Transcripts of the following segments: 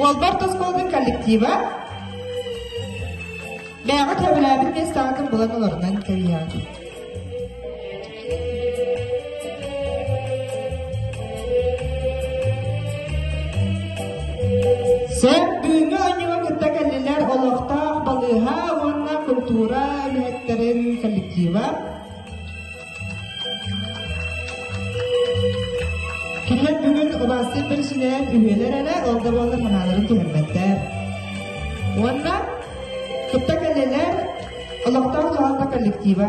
Уолбар тосхолдун коллектива бэйэҕэ сөбүлээбит миэстэҕитин булан олорунан кэрийэҕин. Сөп бүгүҥҥү оонньууга кытта кэллилэр олохтоох балыыһа уонна культура үлэһиттэрин коллектива. Кириэн бүгүн убаастык бэрсинээр үһүөлэр эрэ ордоболлар санааларын түһэрбэттэр. Уонна кытта кэлэлэр олохтоох доһалта коллектива.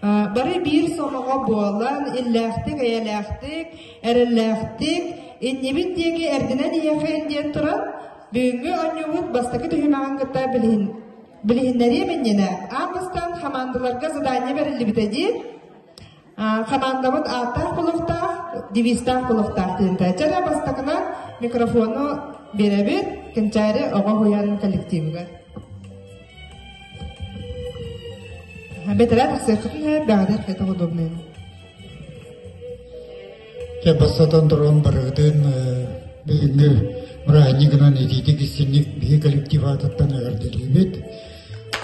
Бары биир сомоҕо буолан, иллээхтик-эйэлээхтик, эрэллээхтик иннибит диэки эрдинэн ийэхэйин диэн туран, бүгүҥҥү онньуубут бастакы түһүмэҕин кытта билиһин билиһиннэриэм иннинэ аан бастаан хамаандаларга задание бэриллибитэ дии хамаандабыт ааттаах-булуохтаах, девизтаах-булуохтаах диэнтэ. Дьэ бастакынан микрофону биэрэбит Кенчари оҕо уһуйаанын коллективыгар. Бэтэрээ тахсыаххытын иһэр даҕатар кэтэх удобнын. Кэ бастатан туран барыгытын бүгүҥҥү бырааһынньыгынан итиитик истинник биһи коллектив аатыттан эҕэрдэлиибит.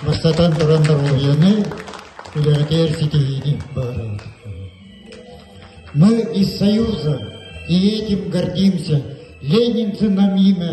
Бастатан туран доруобуйаны, үлэҕитигэр ситиһиини баҕарабыт. Мы из Союза и этим гордимся. Ленинцы нам имя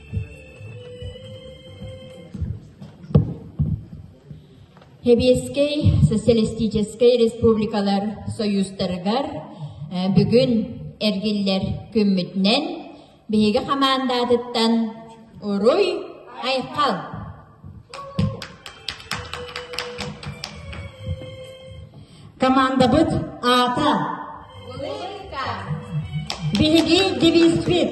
Сэбиэскэй социалистическай республикалар союзтарыгар бүгүн эргиллэр күммүтүнэн биһиги хамаандаатыттан Уруй Айхал! Командабыт аата Биһиги девизбит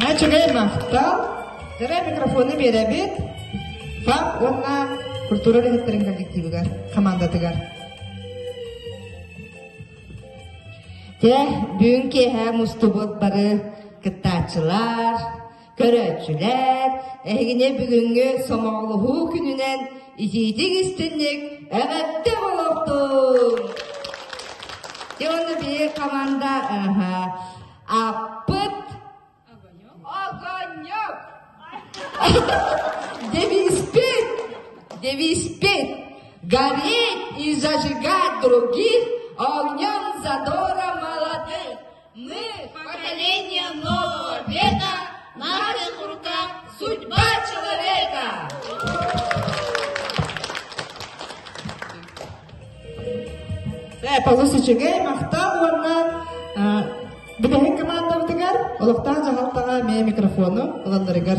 Начинаем! Да? Зарай микрофону биэрэбит ФАП уонна культура үлэһиттэрин коллективыгар, командатыгар. Дьэ, бүгүн киэһэ мустубут бары кыттааччылар, Көрөөччүлэр, эһигини бүгүҥҥү сомоҕолоһуу күнүнэн итиитик истинник эҕэрдэ олохтуҥ! Дьэ уонна биир команда аппыт огонек девиспит девиспит горит и зажигать других огнем задора молодых Поколение Новобета – наших руках судьба человека! Э, Полус үчүгэй, махтал уонна бүтэһик командабытыгар, олохтоох дьаһалтаҕа эмиэ микрофону ылалларыгар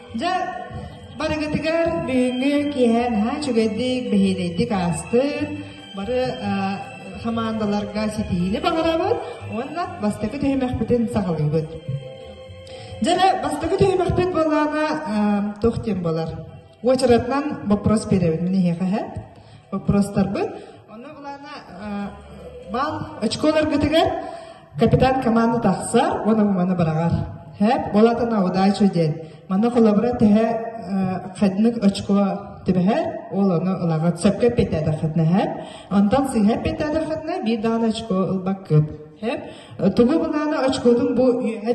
Дьэ, барыгытыгар бүгүҥҥү киэһэ наһаа үчүгэйдик, бэһиэлэйдик аастын. Бары хамаандаларга ситиһиини баҕарабыт уонна бастакы түһүмэхпитин саҕалыыбыт. Дьэ, бастакы түһүмэхпит буоллаҕына туох диэн буолар? Уочаратынан боппуос биэрэбит мин эһиэхэ эһэт. Боппуостарбыт. Онно булаана баал очколаргытыгар Капитан команда тахсар уонна маны быраҕар. Хэп болатана удача диэн. Маны холобура тэһэ хаднык очко түбэһэр, ол оны ылаҕыт сөпкө петада хатнаһар. Антан сиһэ петада хатна би даан очко ылбаккып. Хэп тугу бынаана очкотун бу үйэҕэ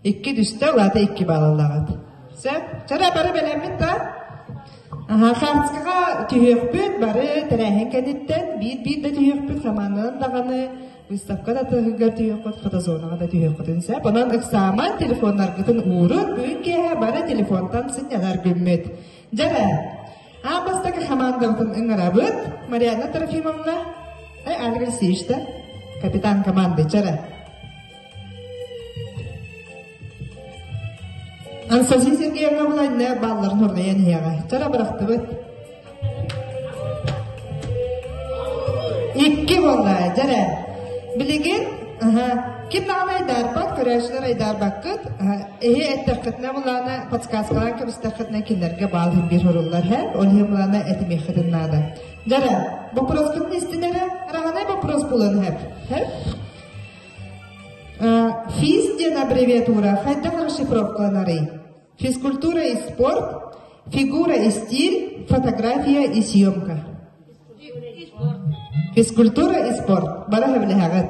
Икки түстэ, улаата икки балалаҕыт. Сөп? Чара бары бэлэммит да? Аха, хаанскаҕа түһүөхпүт бары тэрээһин кэнниттэн биир-биир да түһүөхпүт, хамаананан даҕаны, выставка да тыһыгар түһүөххүт, фотозонаҕа да түһүөххүтүн сөп. Онон ыксааман телефоннаргытын уурут, бүгүн киэһэ бары телефонтан сынньанар гүммүт. Дьара, Аан бастакы хамаандабытын ыҥырабыт Марианна Трофимовна, Альга Алексеевичтэ, капитан командычара. Ансаси Сергеевна Владимир балларын хурдайан иһиэҕэ. Чара бырахтыбыт. Икки болла, жаря. Билигин, аха, ким даҕаны айдаарбат, көрөөччүлэр айдаарбаккыт, Эһи эттэххитинэ булаана подсказкалаан кэбистэххитинэ кинилэргэ баал биир суруллар һэр, ол иһи булаана этимиэххитин наада. Дара, боппуруоскутун истинэрэ, раганай боппуруос булан һэр. Һэр? Физ диэн аббревиатура хайдах расшифровкаланарый? Физкультура и спорт, фигура и стиль, фотография и съемка. Физкультура и спорт. Бара хэбилэһэҕит.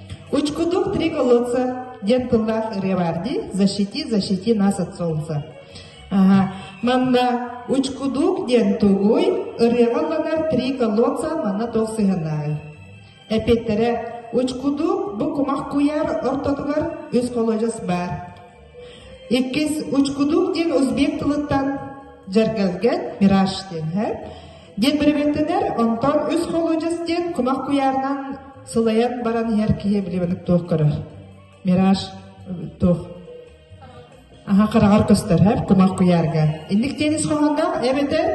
Учкутук три колодца, диэн тыллаах ырыа баар дии. Защити, защити нас от солнца. Ага. Манна учкудук диэн тугуй, ырыаҕа ылланар три колодца манна туох сыһыаннааҕый? Эпиэттэрэ учкудук бу кумах куйаар ортотугар үс холодьос баар. Иккис учкудук диэн узбек тылыттан жаргалгет мираж диэн һэ. диэн бэрэбиэркэлэр онтон үс холуодьас диэн кумах куйаарынан сылайан баран иһэр киһи билибэник туох көрөр мираж туох аха хараҕар көстөрһөр кумах куйаарга инник диэн ис хоһоонноох эбэтэр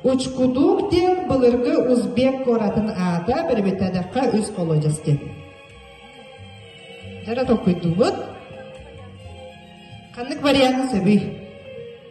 учкудук диэн былыргы узбек куоратын аата бэрэбиэркэлэдэххэ үс холуодьас диэн дьара толкуйдуубут ханнык варианы сөбүй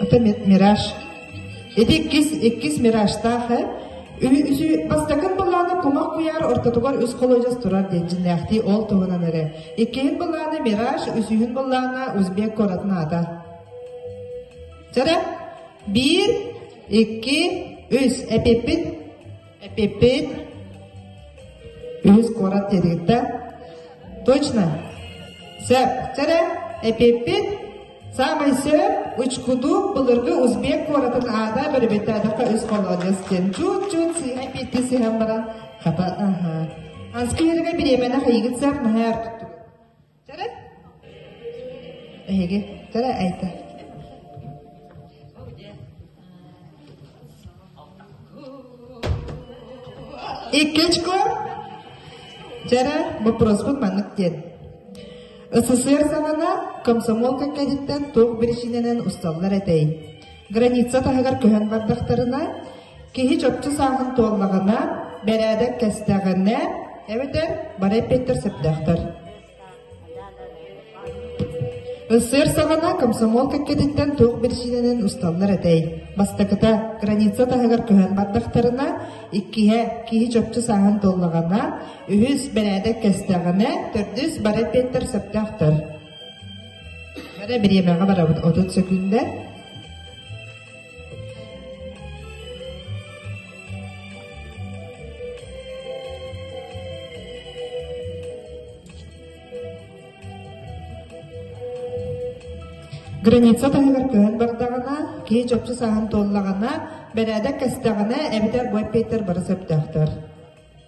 Ата мираж. Ити иккис, иккис миражтаах э. Үһү бастакын былааны кумах куйаар ортотугар үс холодьос турар диэчиннээхтии ол туһунан эрэ. Иккиһин былааны мираж, үсүһүн былаана узбек куоратын аата. Жара. Биир, икки, үс. Эпиппит Эпиппит үһүс куорат тэрилтэ точно сөптөрө эпиппит саамай сөп учкудук былыргы узбек куоратын аада бөрөбөттөөдөхкө үс холодец диэн чут-чут сыыһа эппитти сыһан баран хата аха анскиерге бириэмэнэх ыйыгыт сап наһаар Эһиги кыра эйгэ Иккичко дьэрэ боппуруоспут маннык диэн. СССР-савана комсомол кэккэһиттэн туох биричинэнэн усталлар этэй? Граница таһыгар көһөн бардахтарына, Киһи чопчу сааһын туоллаҕына, бэрээдэк кэстэҕинэ, эбэтэр бары эппиэттэр сөптөөхтөр. Ыссыыр саҕана комсомол кэккэтиттэн туох биричиинэнэн усталлар этэй? Бастакыта, граница таһыгар көһөн бардахтарына, иккиһэ, киһи чопчу сааһын толлаҕына, үһүс, бэрээдэк кэстэҕинэ, төрдүс, бары эппиэттэр сөптөөхтөр. Бары бириэмэҕэ барабыт 30 секундэ. Граница таһыгар кыһын бардаҕына, кии чопчу саһан туоллаҕына, бэрээдэк кэстэҕинэ, эбэтэр бу эппиэттэр бары сөптөөхтөр.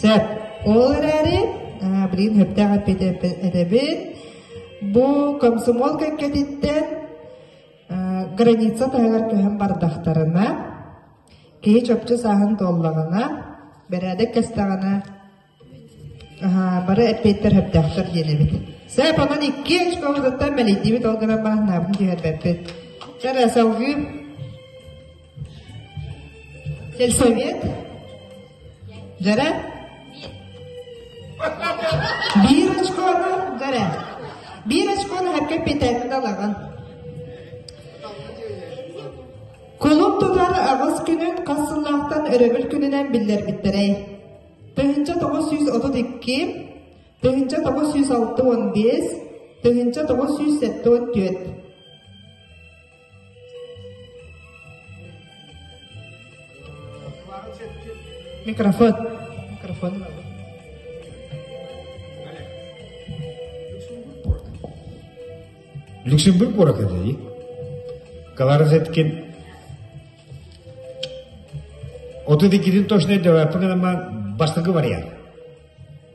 Сөп. Ол эрээри билигин сөптөөх этэбин. Бу комсомол кэккэтиттэн граница таһыгар көһөн бардахтарына, киһи чопчу сааһын туоллаҕына, бэрээдэк кэстэҕинэ бары эппиэттэр сөптөөхтөр диэн эбит. Сөп, онон икки очкоҕытыттан мэлийдибит ол гынан бааһынаабын түһэрбэппит. Кэрэ, салгыы. Сельсовет Дара Биир очкону Дара Биир очкону эппэ петэнин алаҕын Кулун тутар аҕыс күнүн хас сыллаахтан өрөбүл күнүнэн биллэрбиттэрэй. Тыһынча тоҕус сүүс отут икки, тыһынча тоҕус сүүс алты он биэс, тыһынча тоҕус сүүс сэттэ он түөрт. Микрофон. Микрофон надо. Люксембург куорат эдей. Каларазеткин. Оту декидин точно девапын бастыгы вариант.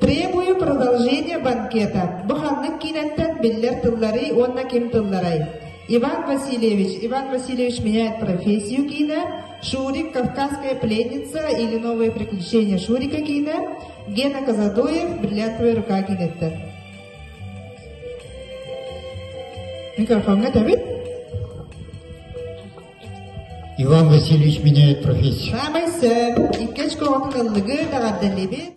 Требую продолжения банкета. Бу ханнык киинэттэн биллэр тылларый уонна ким тылларай? Иван Васильевич. Иван Васильевич меняет профессию кино. Шурик, Кавказская пленница или новые приключения Шурика кино. Гена Казадоев, бриллиантовая рука киноттан. Микрофоҥҥа тэбит. Иван Васильевич меняет профессию. Саамай сөп. Иккис көҕөтүн ыллыгы, таҕардаллыбит.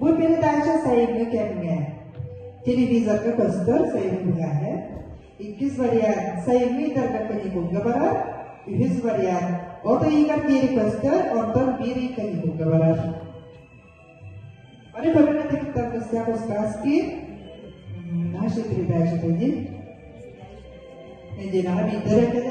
Бу передача сайыҥҥы кэмҥэ телевизорга көстөр сайын быһааһы, иккис вариант сайыҥҥы ыйдарга каникулга барар, үһүс вариант от ыйыгар диэри көстөр, онтон биир ый каникулга барар. Аны көрүҥэ текстан кыстаах устааски нашей передачи тоді. Неділяға бейдер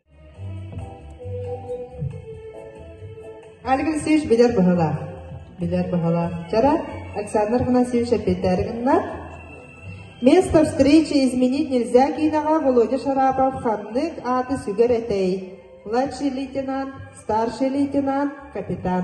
Али Алексеевич билэр быһалаах. Билэр быһалаах. Вчера Александр Афанасьевич опять гынна. Место встречи изменить нельзя киноҕа Володя Шарапов ханнык ааты сүгэр этэй? Младший лейтенант, старший лейтенант, капитан.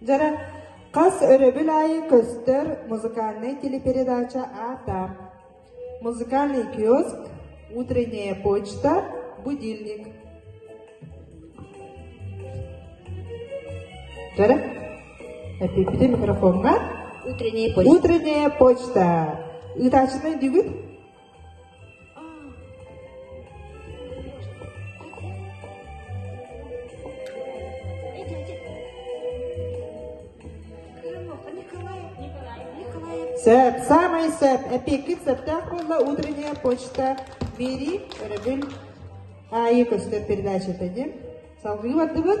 Дьара, хас өрөбүл аайы көстөр музыкальнай телепередача аата? Музыкальный киоск, утренняя почта, будильник. Дьара, эппиппитин микрофоҥҥа. Утренняя почта. Утренняя почта. Ыытааччынай дүүгүт? Сөп, саамай сөп, эпиэккит сөптөөх буолла, утренняя почта, бери, өрөбүн, аайы көстөр передачата дим. Салгыы бардыбыт?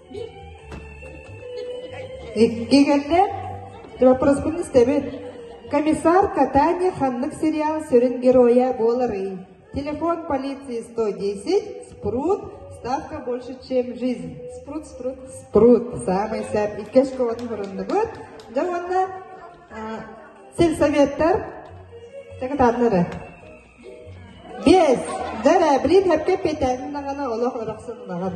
Иккигэрдэ Вопроспун истэбит. Комиссар Катани ханнык сериал сүрүн геройа буоларый? Телефон полиции 110, спрут, ставка больше, чем жизнь. Спрут, спрут, спрут. Самый сап иккэс куолун бұрындыбыт. Дьэ уонна сельсоветтар тагытаннары. Бес, дәрәбрин әпке петән нағана олақ ұрақсын нағыр.